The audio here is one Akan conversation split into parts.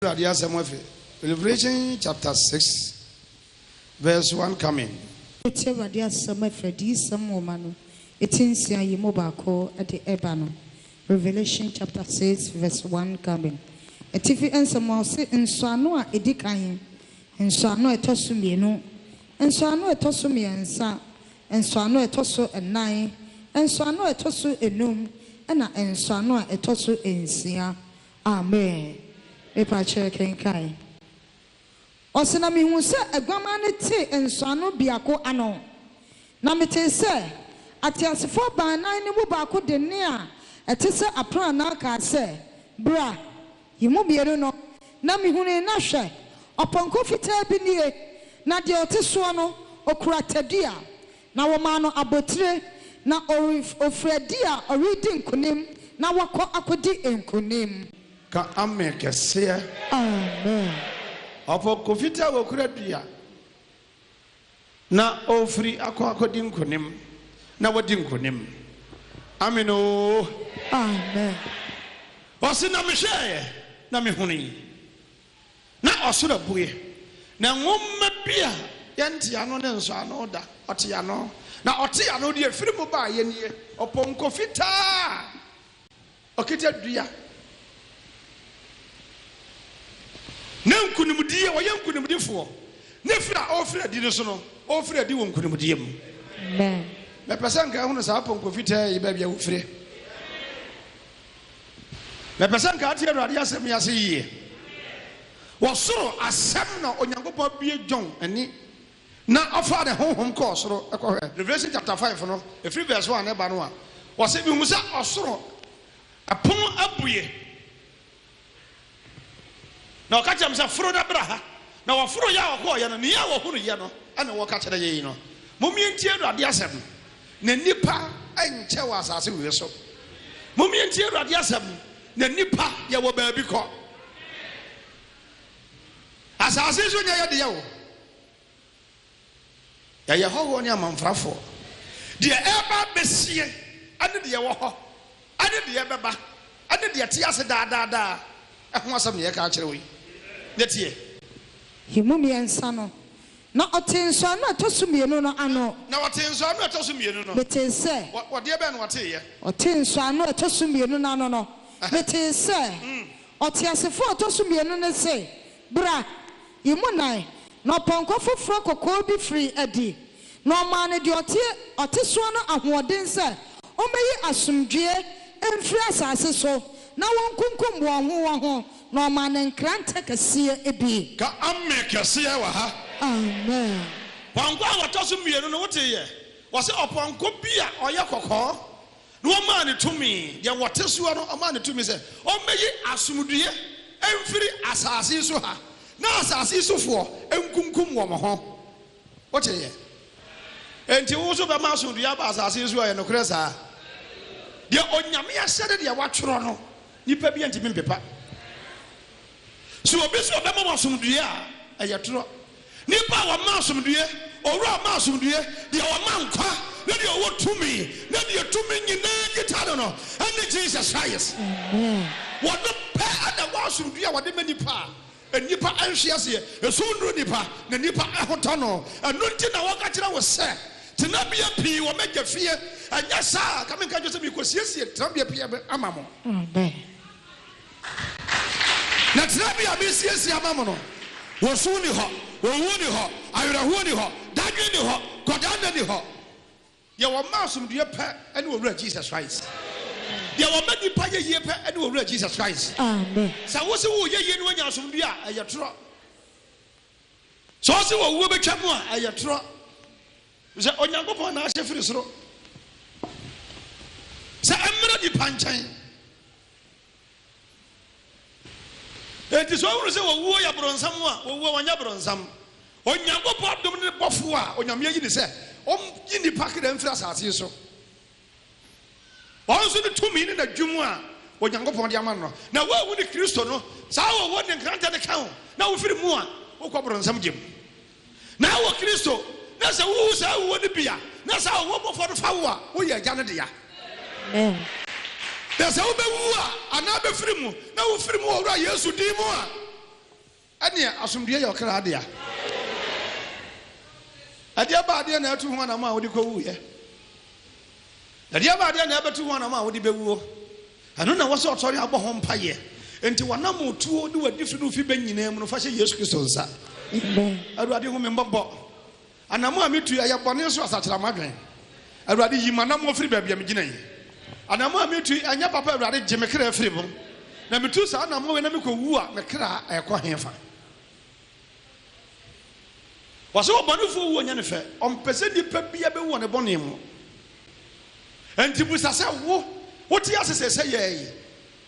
Awurade asɛm afi Revelation chapter six verse one coming. Wotie Awurade asɛm afi Adiyisɛm nwoma no ti nsia yi mu baako de reba no. Revelation chapter six verse one coming. Atifi nsɛm a ɔse nsɔano a edi kan, nsɔano a ɛtɔ so mmienu, nsɔano a ɛtɔ so mmiɛnsa, nsɔano a ɛtɔ so nnan, nsɔano a ɛtɔ so nnum, ɛna nsɔano a ɛtɔ so nsia. Amen. Me pa kyɛ kenkan. Ɔse na mehuu sɛ aguaman no tee nsɔano biako ano. Na metee sɛ ateasefoɔ baanan no mu baako de nne a ɛte sɛ apranaa kaa sɛ, Bra! Yi mu mmienu no. Na mehunui na hwɛ! ɔpɔnkɔ fitaa bi nie, na deɛ ɔte soɔ no, ɔkura tadua. Na wɔmaa no abotire, na ɔref ɔfiri adi a ɔredi nkonim, na wakɔ akɔdi nkonim. Ka Amen kɛseɛ. Amen. Ɔpɔnkɔ fitaa a ɔkura dua, na ɔrefiri akɔ akɔdi nkonim, na wadi nkonim. Amen oo. Amen. Ɔse, na mehwɛeɛ, na mehunui. Na ɔsoro abue, na nwoma bi a yɛntee ano ne nsɔɔ ano da, ɔtee ano. Na ɔtee ano deɛ ɛfiri mu baeɛ nie, ɔpɔnkɔ fitaa a ɔkita dua, na nkunimdie, ɔyɛ nkunimdifoɔ, na ɛfiri a ɔrefiri adi no so no, ɔrefiri adi wɔ nkunimdie mu. Mepɛ sɛ nka ahunu saa pɔnkɔ fitaa yi baabi a ɔfiri. Mepɛ sɛ nka ate Awurade asɛm yi ase yie. Wɔ soro asɛm na Onyankopɔn abue John ani na ɔfaa ne honhom kɔɔ soro kɔhwɛɛ. Revelation chapter five no, ɛfiri verse one ɛba no a, ɔse, Mehuu sɛ ɔsoro pono abue. Na ɔka kyerɛɛ me sɛ, Foro na bra ha. Na wɔforoeɛ a wɔkɔeɛ no, nea wɔhunuiɛ no na wɔka kyerɛ yɛn no. Mommɛntie Awurade asɛm, na nnipa nkyɛ wɔ asase wei so. Mommɛntie Awurade asɛm, na nnipa yɛwɔ baabi kɔ. Asase nso nyɛ yɛn deɛ o. Yɛyɛ hɔhoɔ ne amamfrafoɔ. Deɛ ɛreba abɛsie, ne deɛ ɛwɔ hɔ, ne deɛ ɛbɛba, ne deɛ ɛte ase daa daa daa ho asɛm na yɛreka akyerɛ wo yi. Na tie. He mu mmiɛnsa no. Na ɔtee nsɔano a ɛtɔ so mmienu no ano. Na ɔtee nsɔano a ɛtɔ so mmienu no. Metee sɛ. Wɔ, wɔ deɛ bɛn na ɔteeɛ? Ɔtee nsɔano a ɛtɔ so mmienu no ano no. Metee sɛ. Ɔteasefoɔ a ɔtɔ so mmienu no se, Bra! yi mu nan, na ɔpɔnkɔ foforɔ kɔkɔɔ bi firii adi, na ɔmaa no deɛ ɔte ɔte soɔ no ahoɔden sɛ ɔmmɛyi asomdwoeɛ mfiri asase so, na wɔnkunkum wɔn ho wɔn ho, na ɔmaa no nkrantɛ kɛseɛ bi. Ka Amen kɛseɛ wɔ ha. Amen. Pɔnkɔ a wɔtɔ so mmienu no, wotee yɛ? Wɔse ɔpɔnkɔ bi a ɔyɛ kɔkɔɔ Na wɔmaa no tumi, deɛ wɔte soɔ no, wɔmaa no tumi sɛ ɔmmɛyi asomdwoeɛ mfiri asase yi so ha, na asase yi sofoɔ nkunkum wɔn ho. Woteeɛ? Enti wo nso bɛma asomdwoeɛ aba asase yi so? Ɛyɛ nokorɛ saa? Deɛ Onyame ahyɛ ne deɛ watwerɛ no, nnipa biara ntumi mpepa. Sɛ obi se ɔbɛma wo asomdwoeɛ a, ɛyɛ torɔ. Nnipa a wɔma asomdwoeɛ, Owura a ɔma asomdwoeɛ, deɛ ɔma nkwa, ne deɛ ɔwɔ tumi, ne deɛ tumi nyinaa kita no no, ɛne Jesus Christ. Ɔno pɛ na ɛwɔ asomdwoeɛ a ɔde ma nnipa a nnipa nhwe aseɛ. Esum nnuru nnipa, na nnipa ho tɔ no. Ɛno nti na wɔka kyerɛ wo sɛ, Tenabea pii wɔ m'Agya fie, ɛnyɛ saa a, anka menka akyerɛ wo sɛ, Merekɔsiesie tenabea pii ama mo. Na tenabea a meresiesie ama mo no, osu nni hɔ, owu nni hɔ, awerɛhoɔ nni hɔ, dadwen nni hɔ, kɔdaa nna nni hɔ. Deɛ wɔma asomdwoeɛ pɛ ne Owura Jesus Christ. Deɛ wɔma nnipa yɛ yie pɛ ne Owura Jesus Christ. Amen. Sɛ wo se woreyɛ yie na woanya asomdwoeɛ a, ɛyɛ torɔ. Sɛ wo se owuo bɛtwa mu a, ɛyɛ torɔ. Sɛ Onyankopɔn na ahyɛ firi soro sɛ ɛmmra nnipa nkyɛn. Enti sɛ ɔhunu sɛ owuo yɛ aborɔnsam a, owuo ɔnyɛ aborɔnsam. Onyankopɔn adom ne bɔfoɔ a Onyame ayi no sɛ ɔnyi nnipa kra mfiri asase so. Ɔno nso ne tumi ne n'adwum a Onyankopɔn de ama no. Na woanwu ne Kristo no, saa owuo ne nkrantɛ no ka wo na wofiri mu a, wokɔ aborɔnsam gya mu. Na wɔ Kristo, na sɛ wowu saa wuo no bi a, na saa ɔwɔ bɔfoɔ no fa wo a, woyɛ Agya no dea. Amen. Na sɛ wobɛwu a, anaa bɛfiri mu, na wofiri mu wɔ Wura Yesu din mu a, ɛneɛ asomdwoeɛ yɛ ɔkra dea. Ɛdeɛ baa deɛ na atu ho anam a wode kɔwuuɛ? Ɛdeɛ baa deɛ na ɛbɛtu ho anam a wode bɛwuo? Ɛno na ɛwɔ sɛ ɔsɔre a bɔ ho mpaeɛ. Enti w'anammɔtuo ne w'adifiri ne wo fibɛ nyinaa mu no, fa hyɛ Yesu Kristo nsa. Awurade, hu me mmɔbɔ. Anammɔ a metu yi, ɛyɛ bɔne so asakyera m'adwene. Awurade, yi m'anammɔ firi baabi a megyina yi. Anammɔ a metu yi, ɛnyɛ papa. Awurade, gye me kra firi mu. Na metu saa anammɔ wei na mekɔwu a, me kra ɛrekɔ hefa? Wɔse ɔbɔnefoɔ wuo nyɛ no fɛ, ɔmpɛ sɛ nipa biara bɛwu wɔ ne bɔne mu. Enti bisa sɛ, Wo, wote ase sɛ sɛ yɛn yi,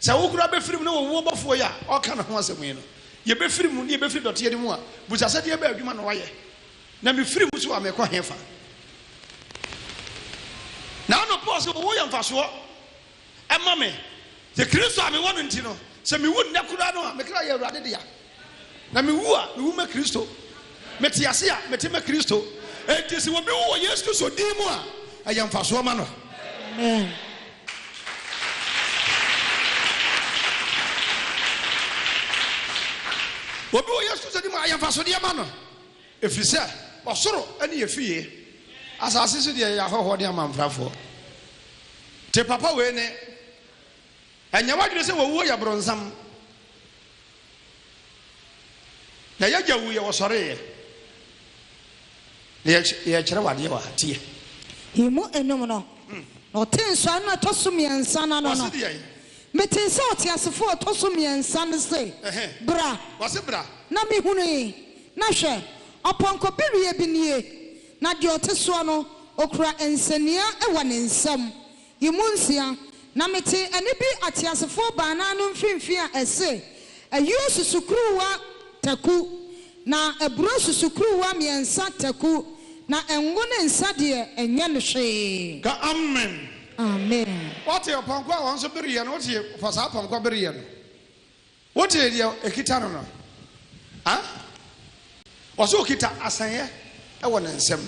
sɛ wo koraa bɛfiri mu na wɔwu ɔbɔfoɔ yi a ɔreka ne ho asɛm yi no, yɛbɛfiri mu na yɛbɛfiri dɔteɛ no mu a, bisa sɛ deɛbɛn adwuma na wayɛ? Na mefiri mu nso a, merekɔ hefa? Na anɔpa ɔse, Owuo yɛ mfasoɔ. Ɛma me, sɛ Kristo a mewɔ no nti no, sɛ mewu nnɛ koraa no a, me kra yɛ Awurade dea. Na mewu a, mewu ma Kristo. Mete ase a, mete ma Kristo. Enti sɛ obi wu wɔ Yesu Kristo din mu a, ɛyɛ mfasoɔ ma no. Amen. Obi wɔ Yesu Kristo din mu a, ɛyɛ mfasodeɛ ma no. Ɛfiri sɛ ɔsoro ne yɛn fie, asase so deɛ, yɛyɛ ahɔhoɔ ne amamfrafoɔ. Te papa wei nne, Ɛnyɛ w'adwene sɛ wɔwuo yɛ bronsam, na yɛagya wuiɛ, wɔsɔreeɛ, na yɛrekyerɛ wo adeɛ wɔ ha, tie. Yi mu nnum no, na ɔtee nsɔano a ɛtɔ so mmiɛnsa no ano no, Metee sɛ ɔteasefo a ɔtɔ so mmiɛnsa no se, Bra! Ɔse, Bra! Na mehunui, na hwɛ! ɔpɔnkɔ bereɛ bi nie, na deɛ ɔte soɔ no, ɔkura nsania wɔ ne nsam. Yi mu nsia. Na metee ɛnne bi ateasefoɔ baanan no mfimfini a ɛse, Ayuo susukuruwa taku, Na aburo susukuruwa mmiɛnsa taku, na ngo ne nsa deɛ, ɛnyɛ no hwee. Ka Amen. Amen. Wote ɔpɔnkɔ a wɔn nso bereɛ no, wote fa saa pɔnkɔ bereɛ no, wote deɛ ɛkita no no? Ha? Wɔso ɔkita asɛnyɛ wɔ ne nsam.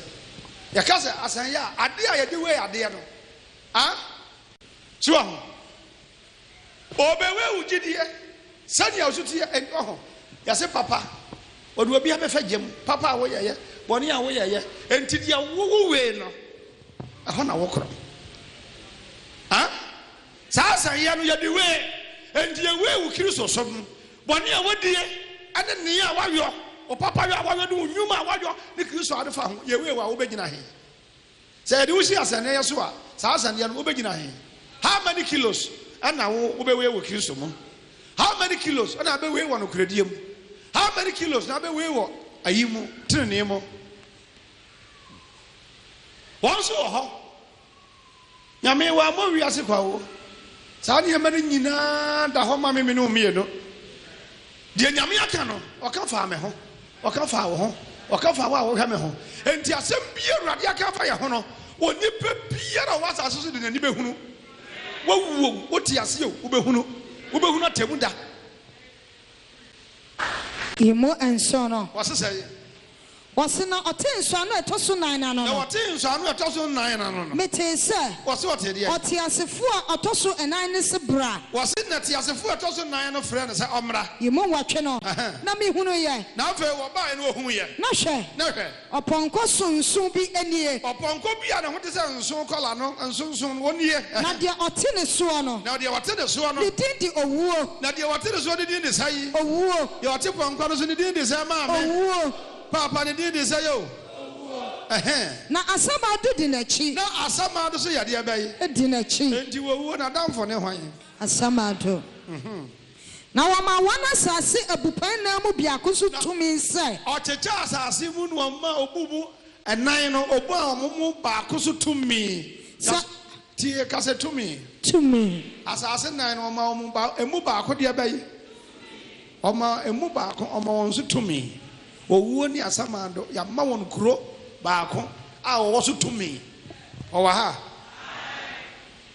Yɛka sɛ asɛnyɛ a, adeɛ a yɛde wei adeɛ no. Ha? So wahu? Obewe wo gyidie sɛdeɛ woso teɛ ɛnni wɔ ho. Yɛse papa ɔde obi abɛfa gya mu, papa a woyɛeɛ, bɔne a woyɛeɛ, enti deɛ wo wo wee no ɛhɔ na wo korɔ. Haa saa asɛnyeɛ no yɛde wee, enti yɛ wee wo Kristo som no, bɔne a wodie ɛne nea woayɔ, wo papa yɔ a woayɔ ne wo nnwuma a woayɔ ne Kristo a wode fa ho, yɛ wee wo a wobɛgyina he? Sɛ yɛde wo si asɛnneɛ so a, saa asɛnneɛ no wobɛgyina he? How many kilos na wo wobɛwei wɔ Kristo mu? How many kilos na wobɛwei wɔ nokorɛdie mu? How many kilos na wobɛwei wɔ ayi mu, tenenee mu? Wɔn nso wɔ hɔ. Nyame, wammɔ wiase kwa o. Saa nneɛma no nyinaa da hɔ ma me, me ne wo mmienu. Deɛ Nyame aka no, Ɔka faa me ho, Ɔka faa wo ho, Ɔka faa wo a wohwɛ me ho. Enti asɛm biara a Awurade aka afa yɛn ho no, onipa biara a ɔwɔ asase so de n'ani bɛhunu. Woawu o, wote ase o, wobɛhunu. Wobɛhunu atemmuda. Yi mu nson no. Wɔse sɛn? Wɔse na ɔtee nsɔano a ɛtɔ so nnan no ano no. Na ɔtee nsɔano a ɛtɔ so nnan no ano no. Metee sɛ. Wɔse ɔtee deɛn? Ɔteasefo a ɔtɔ so nnan no se bra. Wɔse na teasefo a ɛtɔ so nnan no frɛɛ no sɛ ɔmmra. Yi mu nwɔtwe no. Ɛhɛn. Na mehunuuiɛ. Na afei wɔbaeɛ na wɔhuuiɛ. Na hwɛ. Na hwɛ. Ɔpɔnkɔ sononson bi nie. Ɔpɔnkɔ bi a ne ho te sɛ nsõ kɔla no nsonsono no, ɔnie. Na deɛ ɔte ne soɔ no. Na deɛ ɔte ne soɔ no. Ne din de Owuo. Na deɛ ɔte ne soɔ no din de sɛn? Owuo. Deɛ ɔte pɔnkɔ no so no din de sɛn, maame? Owuo. Paapa no din de sɛn o? Owuo. Ɛhɛn. Na asamando di n'akyi. Na asamando nso yɛ deɛ bɛn? Di n'akyi. Enti Owuo no adamfo ne hwan? Asamando. Na wɔmaa wɔn asase abupɛn nan mu biako so tumi sɛ. Ɔkyekyɛɛ asase mu na ɔmaa obu mu nan no, ɔmaa wɔn mu baako so tumi. Sɛ. Tie, ka sɛ, tumi. Tumi. Asase nan no, ɔmaa wɔn ba, emu baako deɛ bɛyɛ. Ɔmaa emu baako, ɔmaa wɔn so tumi. Owuo ne asamando, yɛama wɔn kuro baako a wɔwɔ so tumi. Wɔwɔ ha?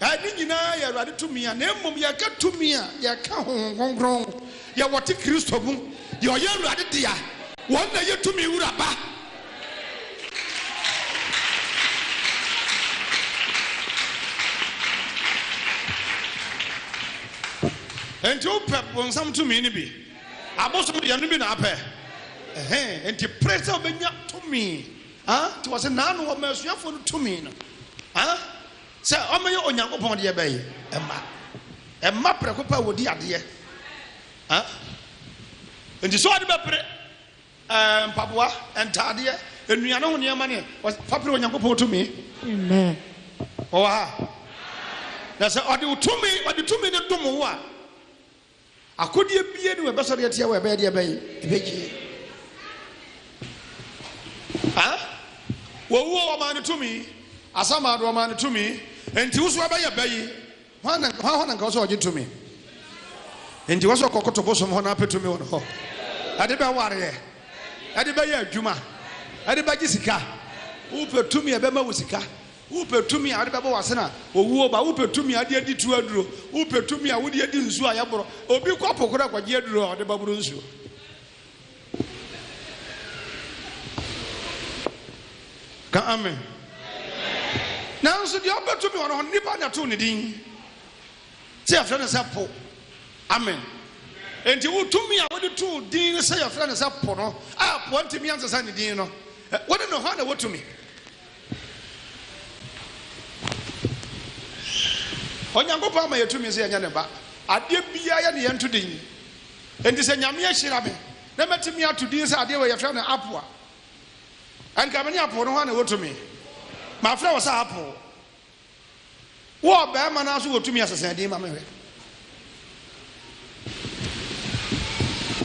Ɛɛ, ne nyinaa yɛ Awurade tumi a, na mmom yɛka tumi a, yɛka Honhom Kronkron, deɛ wɔte Kristo mu, deɛ ɔyɛ Awurade dea, wɔn na ɛyɛ tumi Wura ba. Enti wopɛ bonsam tumi no bi? Abosom deɛ no bi na apɛ? Ɛhɛ, enti pere sɛ wobɛnya tumi. Haa, nti wɔse naano wɔma asuafoɔ no tumi no. Haa. Sɛ wɔyɛ Onyankopɔn deɛ bɛn mma? Mma prɛko pɛ a wɔdi adeɛ. Nti sɛ wɔde bɛpere mpaboa, ntaadeɛ, nnuane ho nneɛma ne fa pere Onyankopɔn tumi. Wɔwɔ ha. Na sɛ ɔde tumi, ɔde tumi no dom wo a, Akodeɛ biara ni wɔ ɛbɛsɔ deɛ teɛ wɔ ɛbɛyɛ deɛ bɛn ɛbɛgyeɛ ah wɔwuo wɔmaa no tumi asamaado wɔmaa no tumi nti woso ɛbɛyɛ bɛyi hwan hɔ na nka wɔsɛ ɔgye tumi nti wɔsɛ ɔkɔkoto bosom hɔ na apɛ tumi wɔn hɔ ɛde bɛwareɛ ɛde bɛyɛ adwuma ɛde bɛgye sika wopɛ tumi ɛbɛma wo sika Wopɛ tumi a wode bɛbɔ w'asen a owuo ba? Wopɛ tumi a wode adi tuo aduro? Wopɛ tumi a wode adi nsuo a yɛboro? Obi kɔ po koraa kɔgye aduro a ɔde bɛboro nsuo. Ka amen. Nanso deɛ ɔpɛ tumi wɔ no hɔ no, nipa na ɛtoo ne din. Sɛ yɛfrɛ no sɛ po. Amen. Enti wo tumi a wode too din no sɛ yɛfrɛ no sɛ po no, a po ntumi ansesa ne din no, wode no hɔ na wotumi. Onyankopɔn ama yɛ tumi sɛ yɛnyɛ ne ba. Adeɛ biaa yɛ ne yɛnto din. Enti sɛ Nyame ahyira me na matumi ato din sɛ adeɛ wei yɛfrɛ no apple a, anka me ne apple no hɔ a na ɛwɔ tumi? Mafrɛ wo sɛ apple. Wo ɔbarima no ara so wɔ tumi a sesɛn din ma me hwɛ.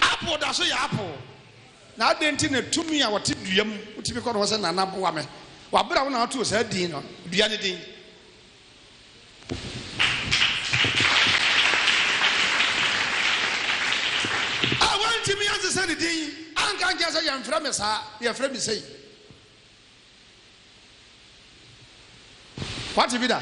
Apple da so yɛ apple. Na adɛn nti na tumi a wɔte dua mu tumi kɔ ne hɔ sɛ, Nana, boa me? Wɔ bere a wo na wotoo saa din no, dua no din. A Wantumi ansesa ne din, anka ankyerɛ sɛ, Yɛmfrɛ me saa, yɛfrɛ me sei. Woate bi da?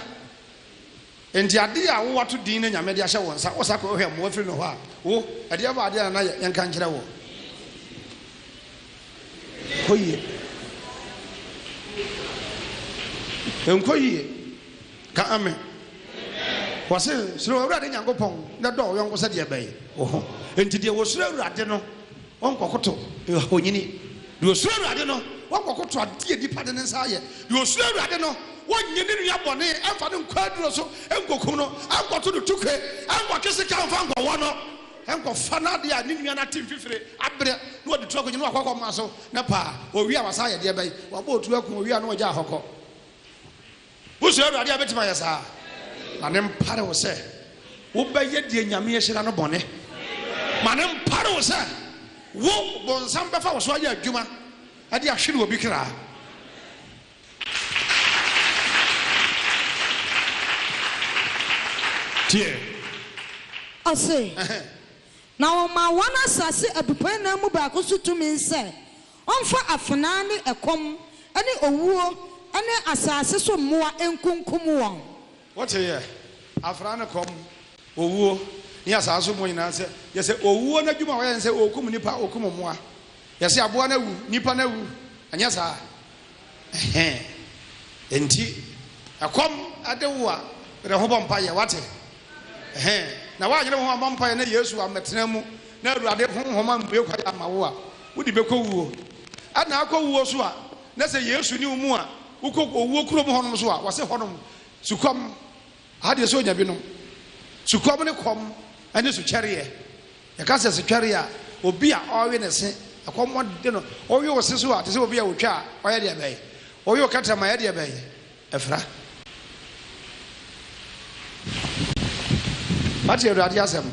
Enti adeɛ a wo ato din na Nyame de ahyɛ wo nsa, wo sa kɔ hwɛ mmoa firi no hɔ a, wo, ɛdeɛ bɔ adeɛ na na yɛ, yɛ nka nkyerɛ woɔ. Kɔ yie. Nkɔ yie. Ka Amen. Wɔse, suro Awurade Nyankopɔn na dɔ wo yɔnko sɛdeɛ ɛbɛye wo ho. Enti deɛ wɔsuro Awurade no, Wɔnkɔkoto ahonyini. Deɛ ɔsuro Awurade no, wɔnkɔkoto adeɛ a nnipa de ne nsa ayɛ. Deɛ ɔsuro Awurade no, wɔnnye ne nua bɔne mfa no nkɔ aduro so nkɔkum no, nkɔto no tukue, nkɔtwe sika mfa nkɔwɔ no, nkɔfa n'adeɛ a ne nua no ate mfifire abrɛ na wɔde tu akɔnyini wakɔ akɔma so, na paa, ɔwie a, wasan ayɛ deɛ bɛn? Wabɔ oturo ako, ɔwie a, na ɔgya hɔ kɔ. Wosuro Awurade a, wobɛtumi ayɛ saa? Ma no mpare wo sɛ wobɛyɛ deɛ Nyame ahyira no bɔne. Ma no mpare wo sɛ wo bonsam bɛfa wo so ayɛ adwuma de ahwere obi kra. Tie. Ɔse, Na wɔmaa wɔn asase abupɛnnan mu baako so tumi sɛ. Ɔmfa afenaa ne ɛkɔm ne owuo ne asase so mmoa nkunkum wɔn. Woteeɛ? Afenaa ne kɔm, owuo, ne asase so mmoa nyinaa sɛ, yɛsɛ owuo no adwuma a wɔyɛ ne sɛ wɔkum nnipa, wɔkum mmoa. Yɛse aboa no awu, nnipa no awu, anyɛ saa a, Ɛhɛɛ. Enti, ɛkɔm de wo a, bere ho bɔ mpaeɛ. Woate? Ɛhɛɛ. Na woanyere wo ho ammɔ mpaeɛ na Yesu ammɛtena mu, na Awurade Honhom ammue kwan amma wo a, wode bɛkɔ wuo. Ɛna akɔ wuo so a, na sɛ Yesu nni wo mu a, wokɔ owuo kuro mu hɔnom so a, wɔse hɔnom, sukɔm Aha deɛ sɛ onya binom. Sukɔm ne kɔm ne sukyɛreɛ. Yɛka sɛ sukyɛreɛ a, obi a ɔrewe ne se, ɛkɔm de no. Wowe wo se so a, te sɛ obi a ɔtwa a, ɔyɛ deɛ bɛn? Wowe wo kɛtrɛma a, ɛyɛ deɛ bɛn? Ɛfra. Wate Awurade asɛm?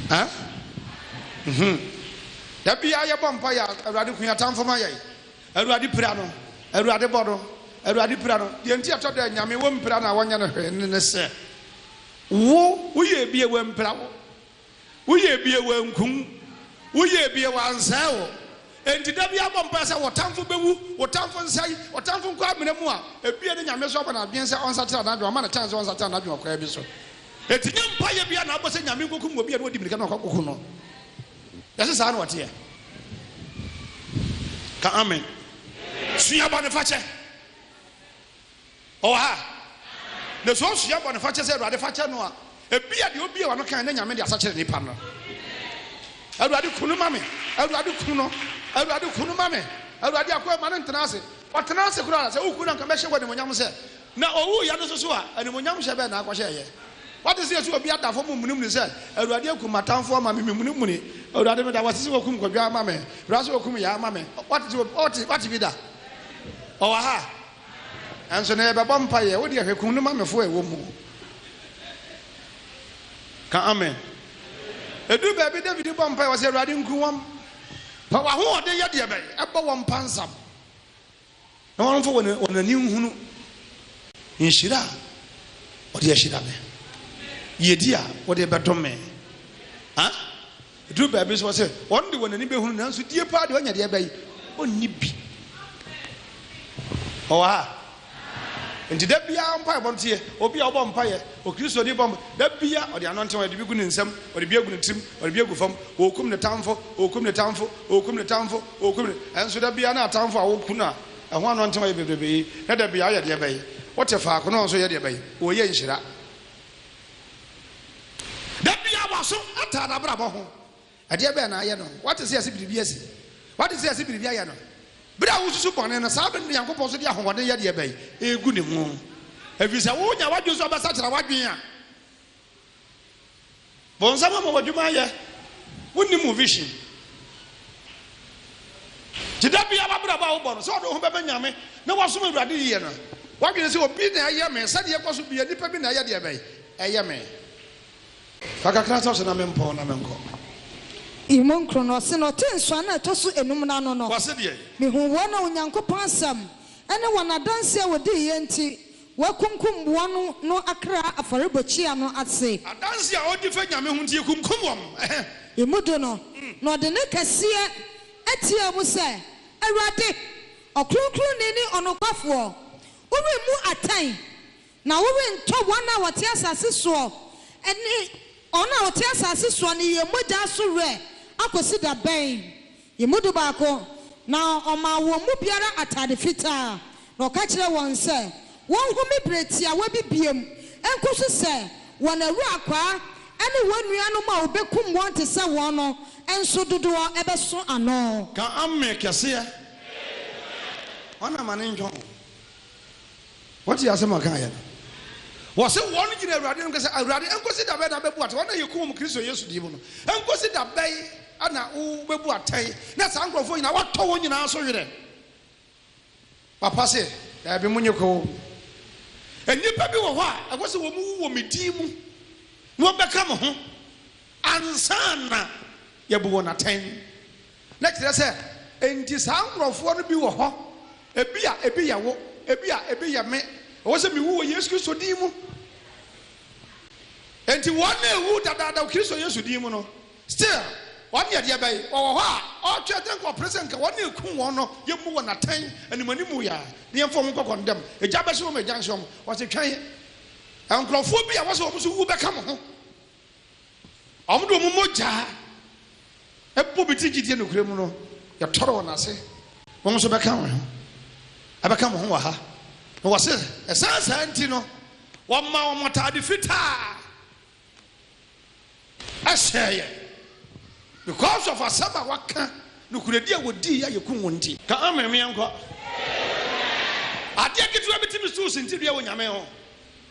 Ɛ? Nhum. Da biara yɛbɔ mpaeɛ a, Awurade, hu yɛn atamfo ma yɛn. Awurade pira no, Awurade bɔ no, Awurade pira no. Deɛ nti a ɛtɔ da a Nyame wɔ mpira no a wɔnyɛ no hwee no ne sɛ, wo woyɛɛ bi a wampira wo, woyɛɛ bi a wanku wo, woyɛɛ bi a wansɛe wo. Enti da biara bɔ mpaeɛ sɛ wo tamfo bɛwu, wo tamfo nsɛe, wo tamfo nkɔ amena mu a ebia ne Nyame nso abɔ no adwene sɛ ɔnsakyera n'adwene, wama no chance sɛ ɔnsakyera n'adwene ɔkwan bi so. Enti nyɛ mpaeɛ biara na wobɔ sɛ Nyame nkɔkum obi a na ɔdi mirika na wakɔko no. Yɛse saa na ɔteɛ? Ka amen. Sua bɔnefakyɛ. Ɔwɔ ha? Na sɛ ɔsua bɔnefakyɛ sɛ Awurade fakyɛ no a, ebia deɛ obie wano kan na Nyame de asakyere nipa no. Awurade ku no ma me. Awurade ku no. Awurade ku no ma me. Awurade akoa ma no ntena ase. Ɔtena ase koraa sɛ woku no anka mɛhyɛ wɔ animonyam sɛ Na owuiɛ no soso a, animuonyam hyɛ bɛn na akɔhyɛeɛ? Woate sɛ yɛsi obi ada fam mmunimuni sɛ, Awurade akum m'atamfoɔ ama me, memunimuni. Awurade, meda wo ase sɛ woakum Kwadwo ama me. Bra sɛ wokum Yaa ma me. Woate sɛ obi, wote, woate bi da? Ɔwɔ ha? Nanso na yɛbɛbɔ mpaeɛ. Wo deɛ hwɛ, kum no ma me fo a ɛwɔ mu. Ka amen. Ɛduru baabi David bɔ mpaeɛ, ɔse, Awurade, nku wɔn. Fa w'ahoɔden yɛ deɛ bɛn? Ɛbɔ wɔn pansam. Na wɔmfa wɔn wɔn ani nhunu nhyira a wɔde ahyira me, yiyedi a wɔde bɛdom me. A Ɛduru baabi nso wɔsɛ wɔn de wɔn ani bɛhunu nanso die paa deɛ ɔnya deɛ bɛyi ɔnni bi. Ɔwɔ ha nti da biara mpaebɔ nteɛ obi a ɔbɔ mpaeɛ okristoni bɔ mpa da biara ɔde ano nteɛ ɔde bi gu ne nsam ɔde bi agu ne tirim ɔde bi agu fam ɔrekum ne tamfo ɔrekum ne tamfo ɔrekum ne tamfo O Kumi, ɛnso da biara na atamfo a wɔko no a ɛho anɔntew ayɛ bebrebe yi, na da biara ɔyɛ deɛ bɛn? Wote faako na ɔnso yɛ deɛ bɛn? Wɔyɛ nhyira. Da biara w'aso ataa n'abrabɔ ho. Ɛdeɛ bɛn na ayɛ no? Wate sɛ yɛse biribi asi? Wate sɛ yɛse biribi ayɛ no? Bere a wosusu bɔne no, saa bere no na Nyankopɔn nso de ahoɔden yɛ deɛ bɛn? Ɛregu ne ho. Efisɛ wonya w'adwene so ɔbɛsakyera w'adwene a. Bonsam ama wo adwuma ayɛ. Wonnim wo vision. Nti da biara w'abrabɔ a wobɔ no, sɛ wode wo ho bɛma Nyame na woasom Awurade yie no, w'adwene sɛ obi na ɛyɛ me, sɛdeɛ ɛkɔ so biara nipa bi na ɛyɛ deɛ bɛn? Ɛyɛ me. Fa kakra sɔ so na mempɔn na menkɔ. Emu nkron no, ɔse na ɔtee nsɔano a ɛtɔ so enum no ano no, Wɔse deɛn? mehuu wɔn a Onyankopɔn asɛm ne wɔn adanseɛ a wɔdiiɛ nti, Wɔakunkum wɔn no akra afɔrebɔkyia no ase. Adanse a ɔdi fa Nyame ho nti yɛkunkum wɔn, ɛhɛ. Emu do no, na ɔde nne kɛseɛ teaa mu sɛ, Awurade, Ɔkronkronni ne Ɔnokwafoɔ, woremmu atɛn, na worentɔ wɔn a wɔte asase soɔ ne wɔn a wɔte asase soɔ ne yɛn mogya so werɛ akɔsi da bɛn? Yɛn mu dubaako, na ɔmaa wɔn mu biara atade fitaa, na ɔka kyerɛɛ wɔn sɛ wɔnhome bere tiawa bi biom nkosi sɛ wɔn awurakwaa ne wɔn nuanom a wɔbɛkum wɔn te sɛ wɔn no nso dodoɔ bɛso ano. Ka Amen kɛseɛ! Hwan na amane ntwa wo? Wɔtee asɛm a ɔkaeɛ no, wɔse wɔn gyina Awurade anim ka sɛ, Awurade, ɛnkosi da bɛn na wobɛbu atɛn wɔn a yɛkum wɔn Kristo Yesu din mu no? Ɛnkosi da bɛn na wobɛbu atɛn na saa nkurɔfoɔ nyinaa woatɔ wɔn nyinaa so werɛ? Papa se, Daabi, monye kɔ wɔn mu. Nnipa bi wɔ hɔ a ɛwɔ sɛ wɔn wu wɔ me din mu na wɔbɛka mo ho ansa na yɛabu wɔn atɛn. Na kyerɛ sɛ, enti saa nkorɔfoɔ no bi wɔ hɔ, ebia ebi yɛ wo, ebia ebi yɛ me, ɛwɔ sɛ mewu wɔ Yesu Kristo din mu. Enti wɔn a ɛwu dadaada wɔ Kristo Yesu din mu no, still, wɔn deɛ deɛ bɛn, wɔwɔ hɔ a, ɔretwɛn atɛn nka ɔpere sɛ nka wɔn a ɛkum wɔn no, yɛmmu wɔn atɛn animuanimu yi ara, na yɛmfa wɔn nkɔ kɔndɛm, egya bɛhye wɔn, egya nhye wɔn, wɔse twɛn, nkorɔfoɔ bi a ɛwɔ sɛ wɔn nso wu bɛka mo ho. Wɔn de wɔn mogya bɔ bi ti gyidie nokorɛ mu no, yɛtɔre wɔn ase. Wɔn nso bɛka wɔn ho, ɛbɛka mo ho wɔ ha. Na wɔse, ɛsan saa nti no, wɔma wɔn ataade fitaa hyɛɛ yɛn, because of asɛm a wɔaka, nokorɛdie a wɔdii a yɛkum wɔn nti. Ka amen menkɔ. Adeɛ ketewa bi tumi so sintidua wɔ Nyame ho.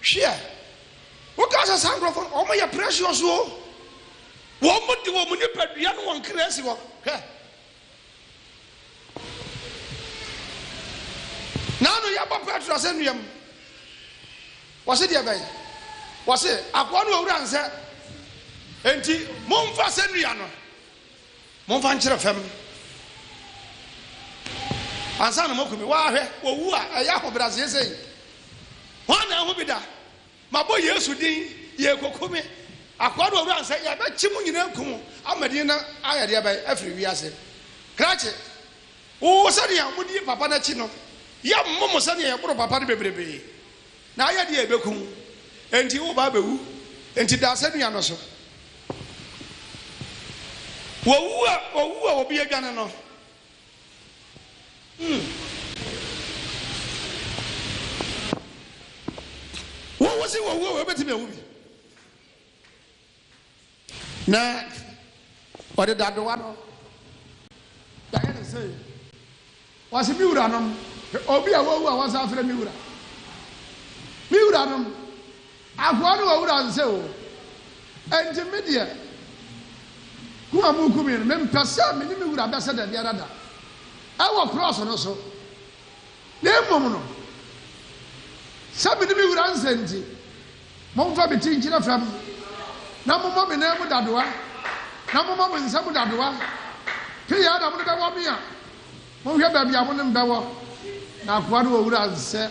Hweɛ wo ka sɛ saa nkorɔfoɔ no wɔn yɛ precious o wɔn de wɔn nipadua no wɔn kra si hɔ hwɛ naanu yɛbɔ petro asɛ nnua mu wɔsi deɛ bɛn wɔsi akoa no owura nsɛ enti mo nfa asɛ nnua no. Momfa nkyerɛ fam ansa na moaku me. Waa hwɛ, owu a ɛyɛ ahobrɛaseɛ sei, hwan na ahu bi da? Mabɔ Yesu din, yɛrekoku me. Akoa no owura nsɛ, yɛbɛkye mo nyinaa aku mo ama din no ayɛ deɛ bɛn afiri wiase. Krakye, wo sɛdeɛ modi papa no akyi no, yɛmmo mo sɛdeɛ yɛboro papa no bebrebe. Na ayɛ deɛ ɛbɛku wo, enti wo ba bɛwu, enti da asɛnnua no so. Wɔwu a, wɔwu a obi adwane no, hmm, wo wose wɔwu a, wobɛtumi awu bi? Na ɔde dadewa no bɛyɛ ne sei. Wɔse me wuranom, obi a wawu a wɔsan afrɛ me wura. Me wuranom, akoa no wɔ wura nse o. Enti me deɛ, kum a mokum me no, mempɛ sɛ me ne me wura bɛsɛ da biara da ɛwɔ krɔɔso no so. Na mmom no, sɛ me ne me wura nse nti, Momfa me ti nkyerɛ fam, na mommɔ me nan mu dadoa, na mommɔ mo nsa mu dadoa. Pii ara na mode bɛwɔ me a, monhwɛ baabi a mo ne me bɛwɔ, na akoa no wɔ wura nsɛ.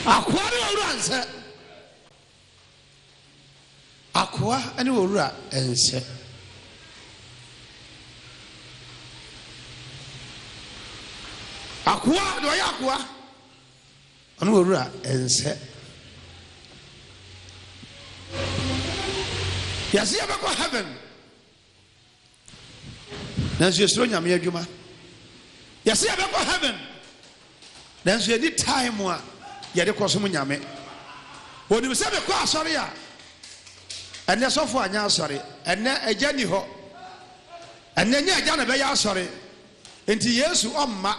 Akoa no wɔ wura nsɛ. Akoa ne owura nsɛ. Akoa deɛ ɔyɛ akoa ɔne owura nsɛ. Yɛse yɛbɛkɔ heaven. Nanso yɛsuro Nyame adwuma Yɛse yɛbɛkɔ heaven Nanso yɛnni time a yɛde kɔsom Nyame Wɔnim sɛ mekɔ asɔre a Ɛnɛ sɔfo anyɛ asɔre Ɛnɛ agya nni hɔ Ɛnɛ nyɛ agya na ɛbɛyɛ asɔre Enti Yesu ɔmma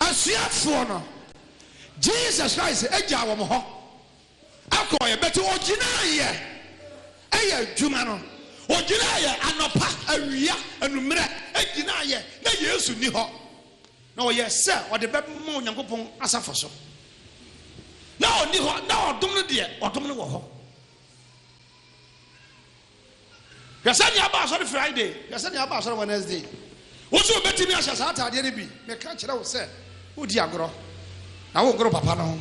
Asuafoɔ no Jesus Christ gyaa wɔn hɔ Akɔeɛ but ɔgyinaeɛ ɛyɛ adwuma no ɔgyinaeɛ anɔpa awia anummerɛ ɛgyinaeɛ na Yesu nni hɔ na ɔyɛ sɛ ɔde bɛma Onyankopɔn asafo so na ɔnni hɔ na ɔdom no deɛ ɔdom no wɔ hɔ. Hwɛ sɛnea aba asɔre Friday, hwɛ sɛnea aba asɔre Wednesday. Wo nso wubetumi ahyɛ saa ataadeɛ no bi. Meka kyerɛ wo sɛ, wodi agorɔ, na wongoro papa no ho.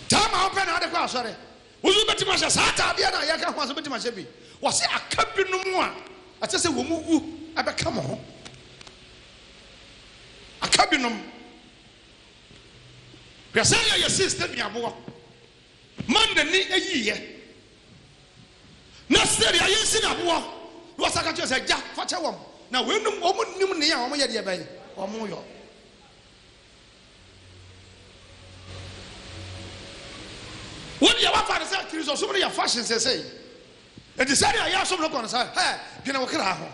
Time a wopɛ na wode kɔ asɔre. Wo nso wubetumi ahyɛ saa ataadeɛ no a yɛka ho asɛm, wubetumi ahyɛ bi. Wɔse aka binom a ɛsɛ sɛ wɔwu bɛka mo ho. Aka binom. Hwɛ sɛnea yɛsii Stephen aboɔ. Ma n'ani yiye, na sɛnea yɛasi no aboɔ. Na wɔsan ka kyerɛɛ no sɛ, Agya, fa kyɛ wɔn, na weinom, wɔnnim nea wɔyɛ deɛ bɛn wɔyɔ. Wo deɛ woafa no sɛ Kristosom no yɛ fashion seesei. Enti sɛnea yɛn som no kɔ no saa. Hɛ! Dwene wo kra ho.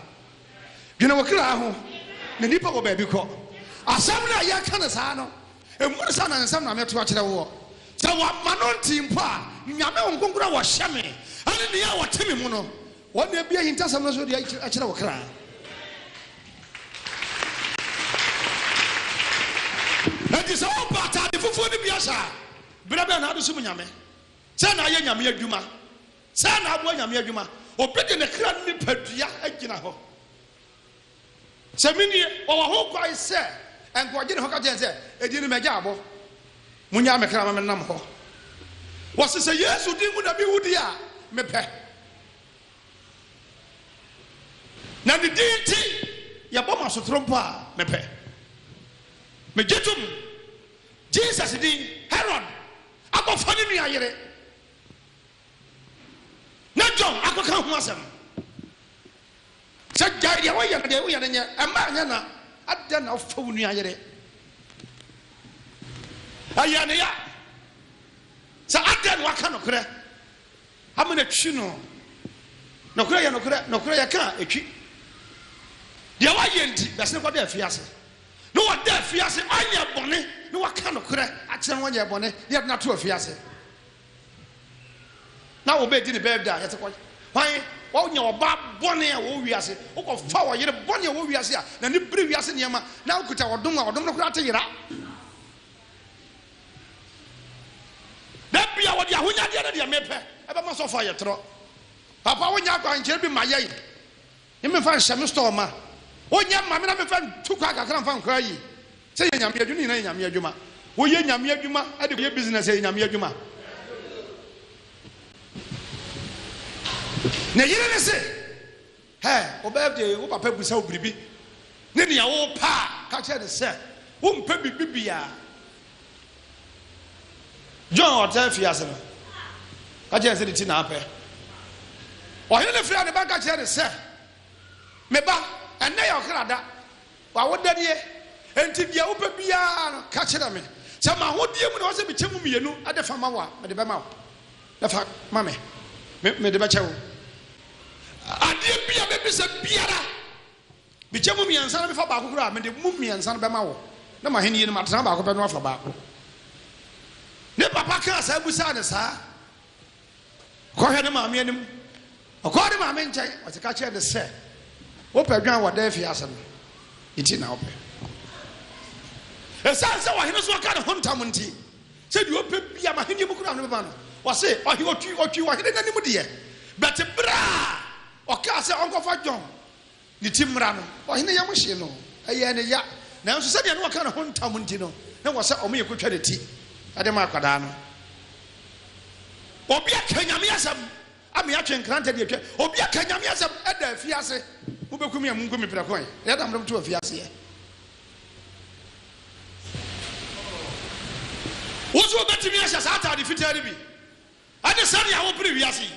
Dwene wo kra ho. Na nnipa wɔ baabi kɔ. Asɛm no a yɛka no saa no, mmu no sɛ anansɛm na meto akyerɛ woɔ. Sɛ wɔamma no nte mpo a, Nyame honhom kronkron a wɔhyɛ me ne nea ɔte me mu no, wɔn na abue ahintasɛm no so de akyerɛ wo kra. Enti sɛ wobɔ atade fufuo no bi ahyɛ a, berɛ bɛn na wode som Nyame? Sɛn na woyɛ Nyame adwuma? Sɛn na aboa Nyame adwuma? Obi de ne kra nipadua agyina hɔ. Sɛ me nie, ɔwɔ ho kwan sɛ nka ɔgye ne ho ka kyerɛ sɛ, Edin no magya abɔ, monyaa me kra ma me nam hɔ. Wɔse sɛ Yesu din mu na me wu deɛ a, me pɛ. Na ne din nti yɛbɔ ma sotoro mpo a, me pɛ. Me gye tom, Jesus din, Herod akɔ fa ne nua yere, na John akɔka ho asɛm no. Sɛ gyae deɛ woyɛ no deɛ woyɛ no nyɛ ɛma ɛnyɛ na adɛn na wofa wo nua yere ɛyɛ ne ya sɛ adɛn na waka nokorɛ ama no atwi no nokorɛ yɛ nokorɛ nokorɛ yɛka a ɛtwi deɛ woayɛ nti bɛsene kɔda afiase na wɔda afiase anyɛ bɔne na waka nokorɛ akyerɛ no wɔnyɛ bɔne deɛ de no ato afiase Na wo bɛdi ne bɛɛ da yɛte kɔ hwan wɔnya ɔbaa bɔne a wɔwɔ wiase wokɔfa ɔyere bɔne a wɔwɔ wiase a na ne bere wiase nneɛma na wokuta ɔdom a ɔdom no koraa te yera da bia wɔde ahonyadeɛ no deɛ mepɛ ɛbɛma sɔfo ayɛ torɔ papa wonya akwankyerɛ bi ma yɛn Ne mefa nhyɛ me store ma. Wo nyɛ mma me na mefa ntu kwan kakra mfa nkɔ ayi. Sɛ yɛ Nyame adwuma, ne nyina yɛ Nyame adwuma. Wo yɛ Nyame adwuma de kɔ yɛ business ɛyɛ Nyame adwuma. Ne yere ne se, hɛ, wo birthday wo papa bisa wo biribi ne nea wo pɛ a, ka kyerɛ ne sɛ wo mpɛ biribi biaa. John a ɔtaa fie ase no ka kyerɛɛ no sɛ ne ti na apɛ. Ɔhene no frɛɛ ne ba ka kyerɛɛ no sɛ, Me ba, ɛnnɛ yɛ ɔkra da, w'awoda nie, enti deɛ wopɛ biara no, ka kyerɛ me. Sɛ m'ahodeɛ mu na ɛwɔ sɛ mekyɛ mu mmienu de fa ma wo a, mede bɛma wo. Na fa ma me, me, mede bɛkyɛ wo. Adeɛ bi a bɛbisa biara, Mekyɛ mu mmiɛnsa na mefa baako kura a, mede mu mmiɛnsa no bɛma wo, na m'ahennie no, matena baako pɛ no afa baako. Ne papa kaa saa bisaa no saa. Kɔhwɛ ne maame anim. Ɔkɔɔ ne maame nkyɛn, ɔte ka kyerɛ no sɛ, Wopɛ adwan wɔ dɛn fiase no? Ne ti na wopɛ. Ɛsiane sɛ ɔhene so aka ne ho ntam nti, sɛ deɛ ɔpɛ bia m'ahennie mu kura no bɛma no. Ɔse, ɔhe, ɔtwi, ɔtwi ɔhene no anim deɛ, bɛte berɛ a ɔkaa sɛ ɔnkɔfa dwan Ne ti mmara no, ɔhene yam hyee no, ɛyɛɛ no ya. Nanso sɛdeɛ na ɔka ne ho ntam nti no, na ɛwɔ sɛ wɔyɛ kɔtwa ne ti de ma akwadaa no. Obi aka Nyame asɛm ama yɛatwe nkrantɛ de atwa. Obi aka Nyame asɛm da afiase. Mobɛku me a, monku me prɛko ɛ. Ɛyɛ dam na moto afiaseɛ. Wo nso wobɛtumi ahyɛ saa ataade fitaa no bi. Ɛne sɛnea wopere wiase yi.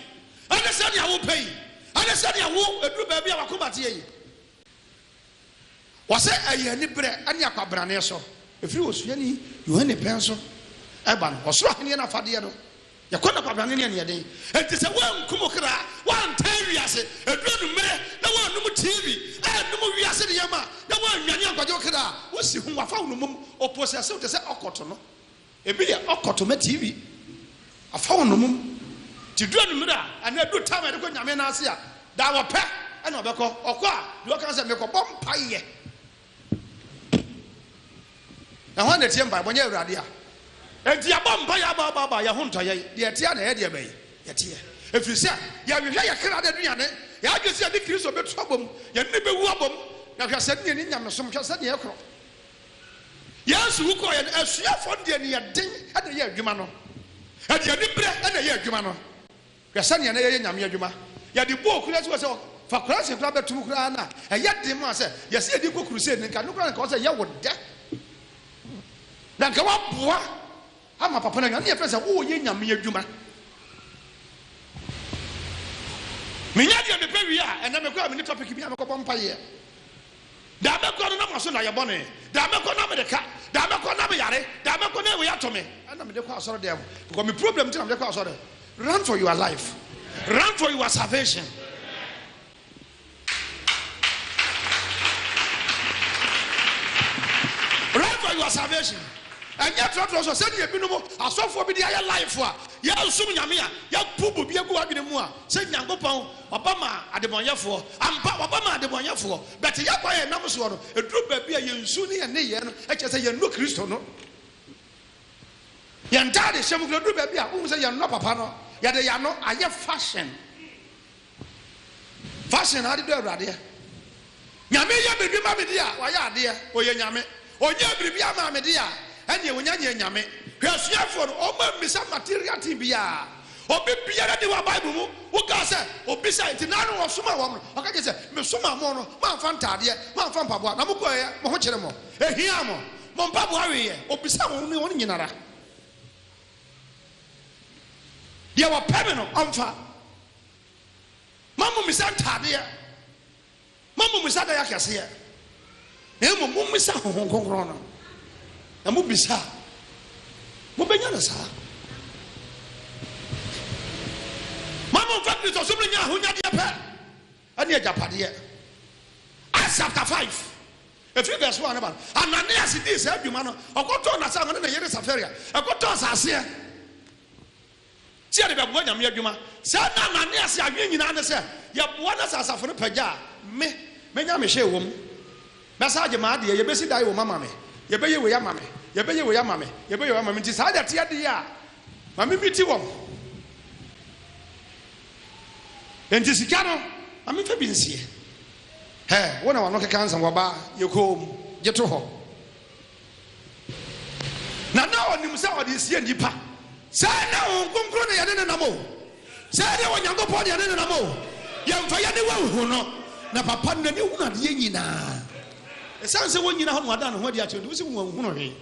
Ɛne sɛnea wopɛ yi. Ɛne sɛnea wo, ɛduru baabi a w'akoma teɛ yi. Wɔse ɛyɛ aniberɛ ne akwabrane so. Ɛfiri osuani Yohane pɛn so ba no. Ɔsoro ahennie no afadeɛ no, yɛkɔ no akwabrane ne aniɛden. Enti sɛ woanku mo kra, woantaa wiase, ɛduru anwummerɛ na woannom TV, annom wiase nneɛma, na woannwane ankɔgye wo kra a, wosi ho, wɔafa wo nnomum, wɔposɛse wo te sɛ ɔkotono. Ebi yɛ ɔkɔtɔ ma TV, afa wo nnomum, nti du anwummere a anaa du time a yɛde kɔ Nyame nan ase a daa wɔpɛ na ɔbɛkɔ, ɔkɔ a deɛ ɔka sɛ mekɔbɔ mpaeɛ. Na hwan na ɛtie mpaebɔ nyɛ Awurade a? Enti yɛabɔ mpaeɛ aba aba aba a yɛn ho ntɔ yɛn, deɛ ɛteɛ a na ɛyɛ deɛ bɛn? Yɛteɛ. Ɛfiri sɛ yɛhwehwɛ yɛn kra no aduane, yɛn adwene sɛ yɛne Kristo bɛtu abom, yɛne no bɛwu abom, na hwɛ sɛdeɛ yɛnni nyamesom, hwɛ sɛdeɛ yɛkorɔ. Yesu wu kɔeɛ no, asuafoɔ no de aniɛden na ɛyɛɛ adwuma no. Ɛde aniberɛ na ɛyɛɛ adwuma no. Hwɛ sɛdeɛ na yɛyɛ Nyame adwuma. Yɛde bɔɔ kura si hɔ sɛ fa kuraase koraa bɛto mu koraa no a, ɛyɛ den ma sɛ yɛse yɛde rekɔ crusade no. Nka ɛno koraa na nka ɛwɔ sɛ yɛwo dɛ. Na nka woaboa. Ama papa no anya ne yɛfrɛ sɛ wowɔ yɛ Nyame adwuma Menya deɛ mepɛ wie a ɛnɛ mekɔ a menni topic bia mekɔ bɔ mpayeɛ Da mɛkɔ no na maso na yɛ bɔne Da mɛkɔ na mede ka Da mɛkɔ na meyare Da mɛkɔ na wei ato me ɛna mede kɔ asɔre dɛm Because me problem nti na mede kɔ asɔre Run for your life Run for your salvation. Run for your salvation ɛnyɛ trɔtrɔ so sɛdeɛ ebinom asɔfoɔ bi de ayɛ life a yɛnsom Nyame a yɛabu bobi agu w'adwene mu a sɛ Nyankopɔn ɔba maa adebɔnyɛfoɔ ampa ɔba maa adebɔnyɛfoɔ but yɛ kwan a yɛnam soɔ no ɛduru baabi a yɛn su ne yɛn nneyɛɛ no kyerɛ sɛ yɛnnɔ Kristo no yɛn ntaadehyɛ mu kura ɛduru baabi a wohu sɛ yɛnnɔ papa no yɛde yɛn ano ayɛ fashion Fashion na ade dɔ awuradeɛ. Nyame yɛ biribi ma me deɛ a, wayɛ adeɛ, ɔyɛ Nyame. Ɔnyɛɛ biribiara maa me deɛ a, ɛnneɛ ɔnya nyɛɛ Nyame. Hwɛ asuafoɔ no, wɔn ammisa material thing biara. Obi biara nni hɔ a Bible mu wokaa sɛ ɔbisae, nti na ano ɔsomaa wɔn no, ɔka kyerɛɛ sɛ, Mesomaa mo no, moamfa ntaadeɛ, moamfa mpaboa, na mokɔeɛ, mo ho kyere mo. Ɛhiaa mo. Mo mpaboa weeɛ. Ɔbisaa wɔn ne wɔn nyinara. Deɛ wɔpɛ me no, wɔmfa. Mma mummisa ntadeɛ, mma mummisa adayɛ akɛseɛ, na mmom mommisa Honhom Kronkron no, na mobisa a, mobɛnya no saa. Ma momfa Kristosom no nyɛ ahonyadeɛ pɛ ne agyapadeɛ. Acts chapter 5 ɛfiri verse 1 ba no, Ananias dii saa dwuma no, ɔkɔtɔɔ n'asase, ɔne ne yere Safaria, ɛkɔtɔɔ asaseɛ. Tia de bɛboa Nyame adwuma. Saa nna a mane ase adwene nyinaa ne sɛ yɛboa na sɛ asafo no pagya a, me, mɛnya me hyee wom. Mɛsan agye m'adeɛ, yɛbɛsi dan wom ama me, yɛbɛyɛ wei ama me, yɛbɛyɛ wei ama me, yɛbɛyɛ wei ama me, nti saa de ɛteɛ deɛ a, ma me meeti wɔn. Nti sika no, ma me fa bi nsie. Hɛ, wo na w'ano keka nsɛm, wɔbaa, yɛ komm, gye to hɔ. Na na ɔnim sɛ ɔde resie nnipa. Sɛ ɛnyɛ Honhom Kronkron na yɛne no nam o, sɛ ɛnyɛ Onyankopɔn na yɛne no nam o, yɛmfa yɛn aniwa nhu no. Na papa no, n'ani hunu adeɛ nyinaa. Ɛsiane sɛ wɔnnyina hɔ na wada ne ho adi akyerɛ nti, wose wanhunu hwee.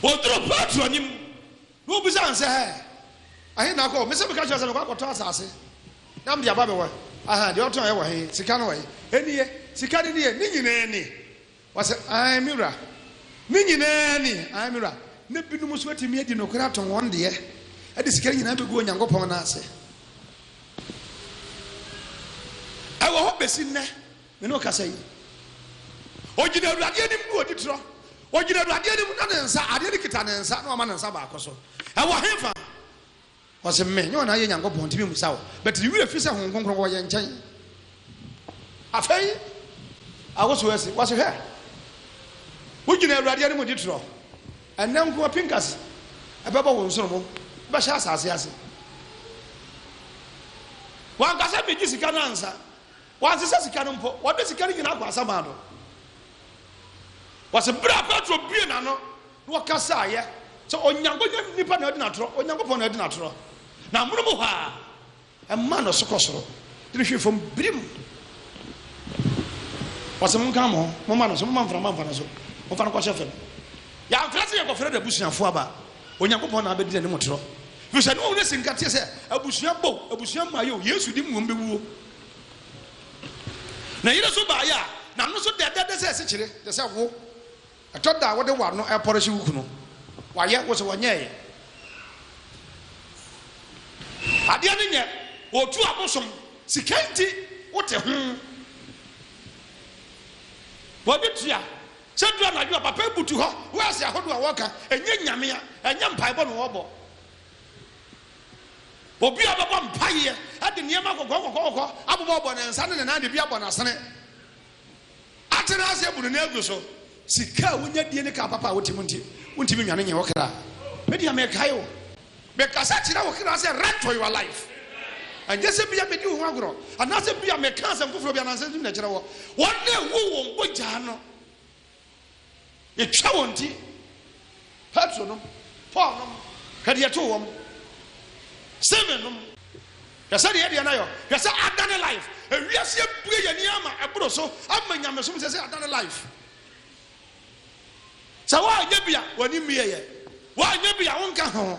Ɔduruu Petro anim Na obisaa no sɛ, Ɛhe na wokɔ? Me sɛ meka kyerɛ wo sɛ mekɔ akɔtɔ asase na mede aba bɛwɔ he? Ahaa, deɛ wotɔeɛ wɔ he? Sika no wɔ he? Ɛnie, sika no nie? Ne nyinaa ni? Ɔse, Aane, me wura. Ne nyinaa ni? Aane, me wura. Na binom nso atumi adi nokorɛ atɔn wɔn deɛ, de sika no nyinaa bɛgu Onyankopɔn nan ase. Ɛwɔ hɔ bɛsi nnɛ. Me ne wo kasa yi. Ogyina Awurade anim na ɔdi torɔ. Ogyina Awurade anim na ne nsa, adeɛ no kita ne nsa na wama ne nsa baako so. Ɛwɔ hefa? Ɔse, Me, nyɛ wɔn a yɛ Nyankopɔn, ntumi mmusa wo. But ne werɛ fi sɛ Honhom Kronkron wɔ yɛn nkyɛn. Afei, awosow asi. Wɔse, Hwɛ! Wogyina Awurade anim di torɔ. Ɛnnɛ nko ara pinkasi ɛbɛbɔ wo nsono mu, wobɛhyɛ asase ase. Wanka sɛ megye sika no ansa. Wansesa sika no mpo. Wɔde sika no nyinaa kwansa maa no. Wɔse berɛ a Petro bue n'ano na ɔkasaeɛ sɛ Onyanko nyɛ nipa na adi no atorɔ, Onyankopɔn na adi no atorɔ. Na amonom hɔ ara, ɛmaa no so kɔ soro de no hwee fam birim. Wɔse monka mo ho, momma no so, momma mframa mfa no so, momfa no kɔhyɛ fam. Yɛamfrɛ sɛ yɛkɔfrɛ n'abusuafoɔ aba, Onyankopɔn na abɛdi n'anim atorɔ. Ɛfiri sɛ na ɔhunu asi nkateɛ sɛ abusua bɔ o, abusua mmaeɛ o, Yesu de mmom bɛwuo. Ne yere nso baeɛ a, na no nso dɛdɛɛdɛ sɛ asikyire, te sɛ wo. Ɛtɔ da a, wode w'ano repɔrehye wo kunu. Wayɛ? Wo se ɔnyɛeɛ. Adeɛ no nyɛ, ɔretu abosom. Sika nti, wote ho. Bɔbi tua. Sɛ duru anadwo a, papa yi butu hɔ, wɔɛse ahodoɔ a wɔka, ɛnyɛ Nyame a, ɛnyɛ mpaebɔ na wɔbɔ. Obi a ɔbɛbɔ mpaeɛ de nneɛma kɔkɔɔkɔkɔɔkɔkɔ abobɔbobɔ ne nsa ne ne nan de bi abɔ n'asene, atena ase abu ne nan agu so. Sika a wonya die ne kaa papa a wote mu nti, wontumi nnwane nyɛ wo kra. Me deɛ mekae o, mekasa kyerɛ wo kra sɛ run for your life. Ɛnyɛ sɛ bia medi wo ho agorɔ anaasɛ bia meka asɛm foforɔ bi anaa nsɛm bi na ɛkyerɛ wɔ. Wɔn na ɛwu wɔn bɔgyaa no Yɛtwa wɔn ti, Petro nom, Paul nom, hwɛ deɛ ɛtoo wɔn, Stephen nom, hwɛ sɛdeɛ yɛ deɛ no ayɔ, hwɛ sɛ adane life, ewiase abue yɛn ani ama ɛboro so, ama nyamesom sɛ sɛ adane life. Sɛ woanyɛ bi a, w'ani mmieyɛ, woanyɛ bi a wonka ho.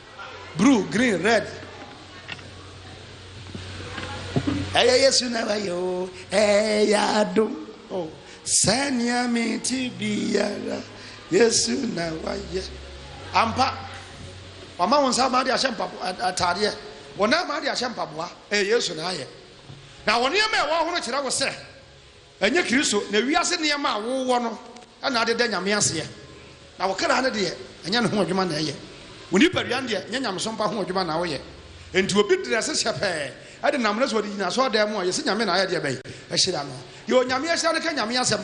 Bruu, green, rɛd. Ɛyɛ Yesu na wayɛ o, ɛyɛ adom o. Sɛnea mete biara, Yesu na wayɛ. Ampa, wama wo nsa ama de ahyɛ mpaboa ataadeɛ, wo nan ama de ahyɛ mpaboa, ɛyɛ Yesu na ayɛ. Na wo nneɛma a ɛwɔ ho no kyerɛ wo sɛ Ɛnyɛ Kristo na wiase nneɛma a wowɔ no na adeda Nyame aseɛ, na wo kra no deɛ, ɛnyɛ ne ho adwuma na ɛyɛ. Wo nipadua no deɛ, ɛnyɛ nyamesom pa ho adwuma na woyɛ. Enti obi drɛse hyɛpɛɛ de nam no so ɔde gyina asɔredan mu a, yɛse Nyame na ayɛ deɛ bɛn? Ahyira no. Deɛ Onyame ahyira no ka Nyame asɛm.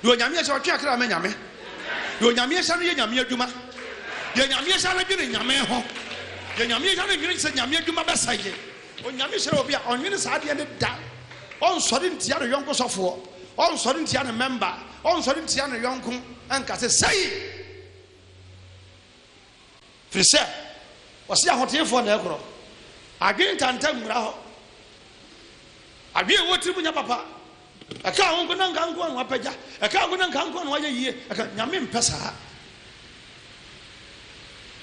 Deɛ Onyame ahyira no twe akra ma Nyame. Deɛ Onyame ahyira no yɛ Nyame adwuma. Deɛ Nyame ahyira no dwene Nyame ho. Deɛ Nyame ahyira no nnwene sɛ Nyame adwuma bɛsɛe Onyame hyira obi a, ɔnwene saa adeɛ no da. Ɔnsɔre ntia ne yɔnko sɔfoɔ, ɔnsɔre ntia ne mɛmba, ɔnsɔre ntia ne yɔnko nka sɛ, Sei! Firi sɛ, wɔse ahoteefoɔ na ɛkorɔ. Adwene ntanta mmura hɔ. Adwene a ɛwɔ tiri mu nyɛ papa. Ɛkaa wo nko na nka nko a na wapagya. Ɛkaa wo nko na nka nko a na wayɛ yie. Ɛka Nyame mpɛ saa.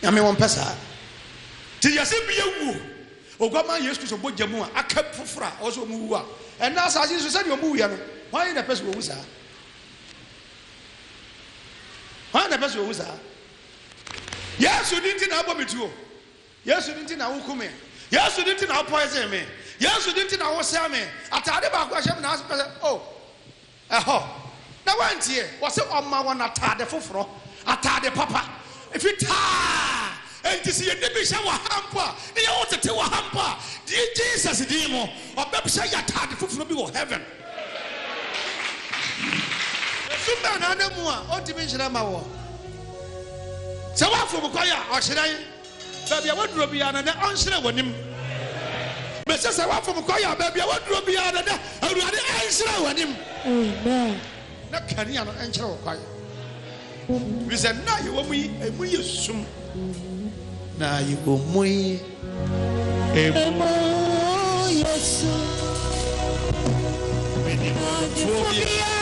Nyame wɔmpɛ saa. Ti yɛse bi awuo. Oguaman Yesu Kristo bogya mu a aka foforɔ a ɔwɔ sɛ ɔmu wu a ɛnna asase so sɛdeɛ ɔmu wuiɛ no hwan na ɛpɛ sɛ ɔwu saa? Hwan na ɛpɛ sɛ ɔwu saa? Yesu di nti na abɔ me tuo. Yesu din nti na woku me. Yesu din nti na wo poison me. Yesu din nti na wo sɛe me. Atade baako a ɛhyɛ me na asɛ sɛ oh ɛhɔ. Na woantie. Wɔse ɔma wɔn atade foforɔ. Atade papa. Fitaa. Enti sɛ yɛde bi hyɛ wɔ ha mpo a, ne yɛ wo tete wɔ ha mpo a, die Jesus din mu, ɔbɛhyɛ yɛ atade foforɔ bi wɔ heaven. Ɛsum bɛn na ada mu a ɔntumi nhyerɛn ma woɔ? Sɛ woafom kwaeɛ a, ɔhyerɛn. Baabi a woduro biara no dɛ ɔnhyerɛn w'anim. Mese sɛ wofom kwaeɛ a, baabi a woduro biara no dɛ Awurade ɛnhyerɛn w'anim. Amen. Na kanea no ɛnkyerɛ wo kwaeɛ. Firi sɛ nna a yɛwɔ mu yi, emu yɛ sum. Na yɛwɔ mu yi, emu yɛ sum. Menim ɔdefo biara.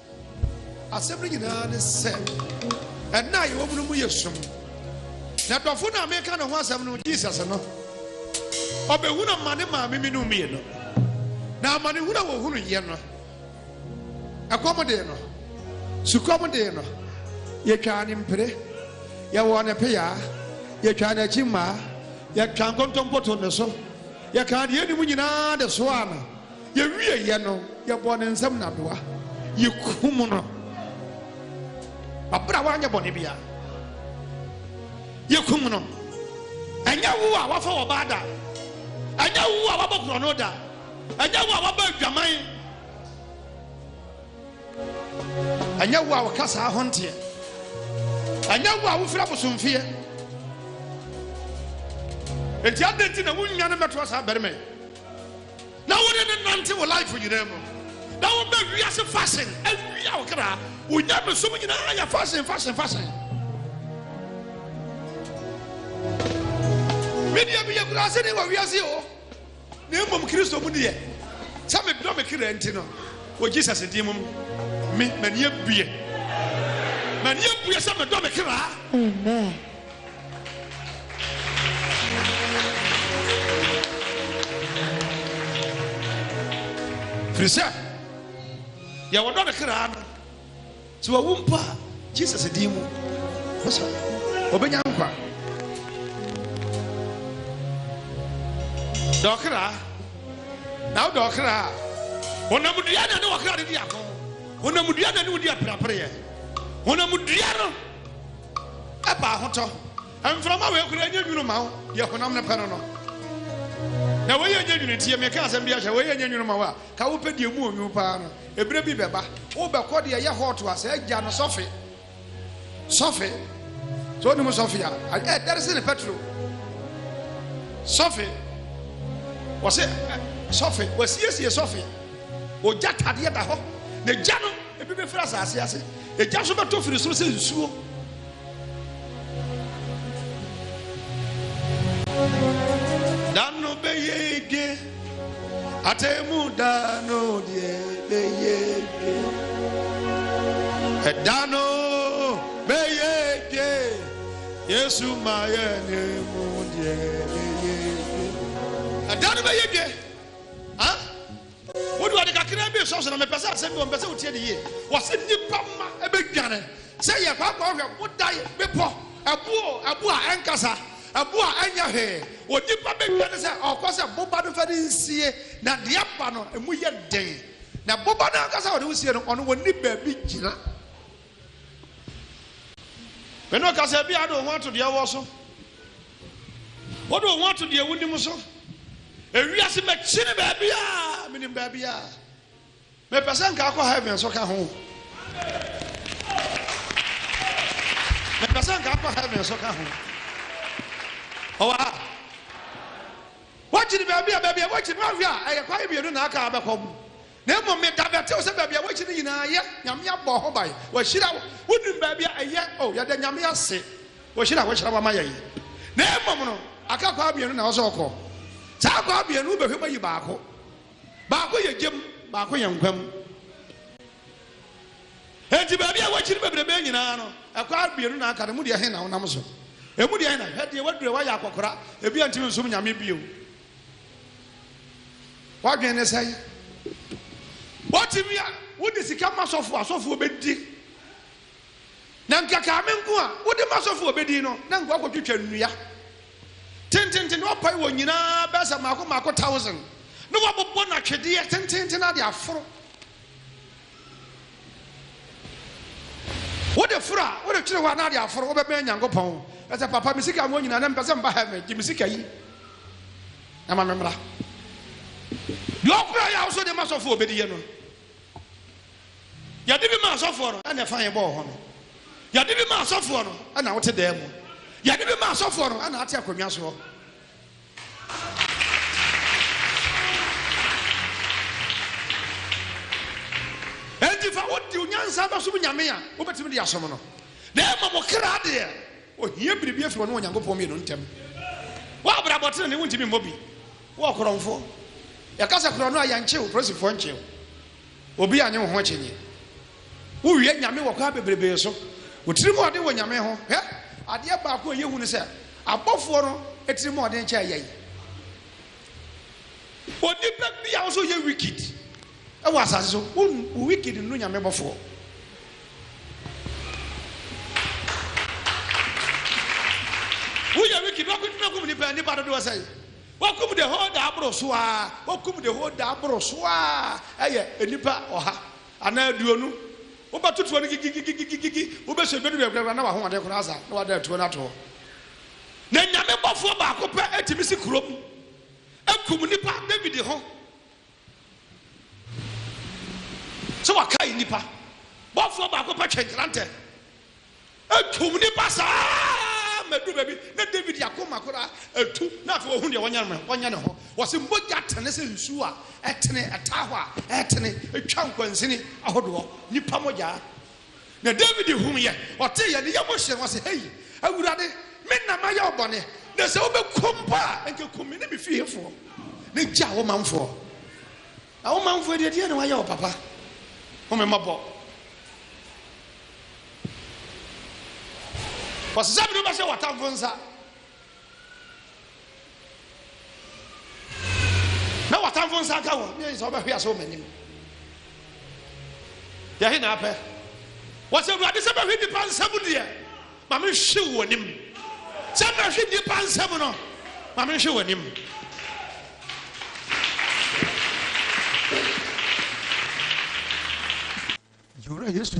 Asɛm no nyinaa ne sɛ, nna a yɛwɔ mu no mu yɛ sum. Na dɔfo no a meka ne ho asɛm no, Jesus no, ɔbɛhunu amane maa memenom mmienu. Na amanehunu a wɔhunuiɛ no, ɛkɔm dee no, sukɔm dee no, yɛtwaa ne mpire, yɛwɔɔ ne peaa, yɛtwaa n'akyi mmaa, yɛtwaa nkontompo too ne so, yɛkaa deɛ yɛnim nyinaa de soaa no. Yɛwieeɛ no, yɛbɔɔ ne nsam nnadoa, yɛkumm no, ɔberɛ a wanyɛ bɔne biara. Yɛkumm no. Ɛnyɛ wo a wafa ɔbaa da, ɛnyɛ wo a wabɔ borɔno da, ɛnyɛ wo a waba adwaman, ɛnyɛ wo a wɔka saa ho nteɛ, ɛnyɛ wo a wofiri abosomfeɛ. Enti adɛn nti na wonnya no mmɛtoa saa barima yi? na wode ne nante wo life nyinaa mu na wobɛ wiase fashion awia wo kra wonya mesom nyinaa yɛ fashion fashion fashion medeɛ meyɛ kurase ne wɔ wiase o na mmom kristo mu deɛ sɛ medɔ me kra nti no wɔ jesus din mu me m'ani abue m'ani abue sɛ medɔ me kra amen firi sɛ deɛ wɔdɔ ne kra no sɛ wawu mpo a jesus din mu sɛ ɔbɛnya nkwa dɛ ɔkra na wodɛ ɔkra a honam dua na ne wɔkra de di ako honam dua na ne wodi apirapereɛ honam dua no Ɛba ahotɔ. Mframa wei koraa nyɛ nwunu ma wo deɛ honam no pɛ no no. Na wei yɛ nyɛ nwunu nti meka asɛm bi ahyɛ wei yɛ nyɛ nwunu ma wo a ka wopɛ deɛ mu onwunu paa no ebire bi bɛba wobɛkɔ deɛ ɛyɛ hot a sɛ agya no sɔfe sɔfe sɛ onim sɔfe a ɛdɛre se ne petro sɔfe wɔse sɔfe wɔasiesie sɔfe ogya tadeɛ da hɔ na gya no ebi bɛfiri asase ase Egya nso bɛtɔ firi soro sɛ nsuo. Da no bɛyɛ edwe, atemu da no deɛ bɛyɛ edwe. Ɛda no bɛyɛ edwe, Yesu ma yɛ ne mu deɛ bɛyɛ edwe. Ɛda no bɛyɛ edwe. Wode ade kakraa bi resɔ so, na mepɛ sɛ asɛm bi wɔ, mepɛ sɛ wotie no yie. Wɔse nnipa mma bɛdwane sɛ yɛkwaakwa hwɛ bodae, bepɔ, ɛbo o, ɛbo a ɛnkasa, ɛbo a ɛnyɛ hwee. Onipa bɛdwane sɛ ɔkɔ sɛ boba no fa ne nsie, na deɛ ɛba no, emu yɛ den. Na boba no ankasa a ɔde wo sie no, ɔno ɔnni baabi gyina. Me ne wo kasa, ebia wode wo ho ato deɛ wowɔ so. Wode wo ho ato deɛ wonim so. Ewiase mɛkyini baabiaa menim baabiaa. Mepɛ sɛ nka akɔ heaven so ka ho. Mepɛ sɛ nka akɔ heaven so ka ho. Ɔwɔ ha. Wakyini baabi a baabi a wakyini wahwɛ a ɛyɛ kwae mmienu na aka abɛkɔ mu. Na mmom me da bɛtew sɛ baabi a woakyi no nyinaa yɛ, Nyame abɔ ho ban, wahyira wo, wonim baabi a ɛyɛ, oh, yɛda Nyame ase, wɔhyira a wahyira wo ama yɛn yi. Na mmom no, aka akwaa mmienu na ɛwɔ sɛ ɔkɔ, saa akwaa mmienu wobɛhwɛ mu ayi baako, baako yɛ gyam, baako yɛ nkwa mu. Enti baabi a woakyi no bebrebe nyinaa no, akwaa mmienu na aka no, emu deɛ he na wonam so? Emu deɛ he na, hwɛ deɛ woadura, woayɛ akɔkora, ebia ntumi nsom Nyame bio. W'adwene ne sɛn? Wotumi a, wode sika ma sɔfo a, sɔfoɔ bɛdi. Na nka kaa me nko a, wode ma sɔfo a ɔbɛdi no, na nka wakɔtwitwa nnua. Tententen na wapae wɔn nyinaa bɛyɛ sɛ mmaako mmaako thousand, na wabobɔ no atwedeɛ tententen na ade aforo. Wode foro a, wode twere hɔ a na ade aforo, wobɛbɛn Nyankopɔn. Ka sɛ, Papa, me sika nwɔ nyina, na mepɛ sɛ meba heaven, gye me sika yi, na ma me mmra. Deɛ ɔkora yɛ a wosɔ de ma sɔfoɔ ɔbɛdi yɛ no. Yɛde bi ma asɔfoɔ no, ɛna ɛfa yɛ bɔɔ hɔ no. Yɛde bi ma asɔfoɔ no, ɛna wote dan mu. Yɛde bi ma asɔfoɔ no, ɛna ate akonnwa soɔ. Enti fa wo de wo nyansa bɛsom Nyame a wobɛtumi de asom no, na mmom wo kra deɛ, ohia biribi afiri ɔne Onyankopɔn mmienu ntam. W'abrabɔ tenenee wontumi mmɔ bi. Wo ɔkorɔmfoɔ, yɛka sɛ korɔno a yɛnkye wo, polisifoɔ nkye wo. Obi annye wo ho akyinnye. Wowie Nyame wɔ kwan bebrebe so. Wo tirimɔden wɔ Nyame ho. Hwɛ! Adeɛ baako a ɛyɛ hu ne sɛ, abɔfoɔ no tirimɔden kyɛn yɛn. Onipa bi a wo sɛ ɔyɛ wicked wɔ asase so, wo wicked nnu Nyame bɔfoɔ. Woyɛ wicked, wobɛkum nipa, nipa dodoɔ sɛn? Wɔakum the whole daa boro so aa Wɔakum the whole daa boro so aa Ɛyɛ nnipa ɔha anaa aduonu Wobɛto tuo no gigigigigigigi Wobɛhyɛ dwa no wie koraa na w'ahoɔden koraa asa na w'ada atuo no ato hɔ Na Nyame bɔfoɔ baako pɛ tumi si kurom kum nnipa David ho Sɛ wakae nnipa bɔfoɔ baako pɛ twɛn krantɛ atwom nnipa saa mɛdu baabi na David akoma koraa atu na afei ɔhu deɛ wɔnyɛ ne ho wɔ se mogya tene sɛ nsuo a ɛtene ɛtaa hɔ a ɛtene ɛtwa nkwansini ahodoɔ nnipa mogyaa Na Dawid huuiɛ, ɔteeɛ, ne yam hyee no, ɔse, Hei, Awurade, me na mayɛ wo bɔne, na sɛ wobɛku mpo a, nka ku me ne me fiefoɔ, na gya wo manfoɔ. Na wo manfoɔ deɛ, deɛn na wɔayɛ wo, Papa? Hu me mmɔbɔ. Wɔsesa me de wobɛhyɛ w'atamfo nsa. na w'atamfo nsa aka wɔn ne sɛ wɔbɛhwe ase wɔ m'anim yɛhe na apɛ wɔsɛ awurade sɛ bɛhwe nnipa nsɛm deɛ ma menhwe wɔ anim sɛ bɛhwe nnipa nsɛm no ma menhwe wɔ anim yɛwura yesu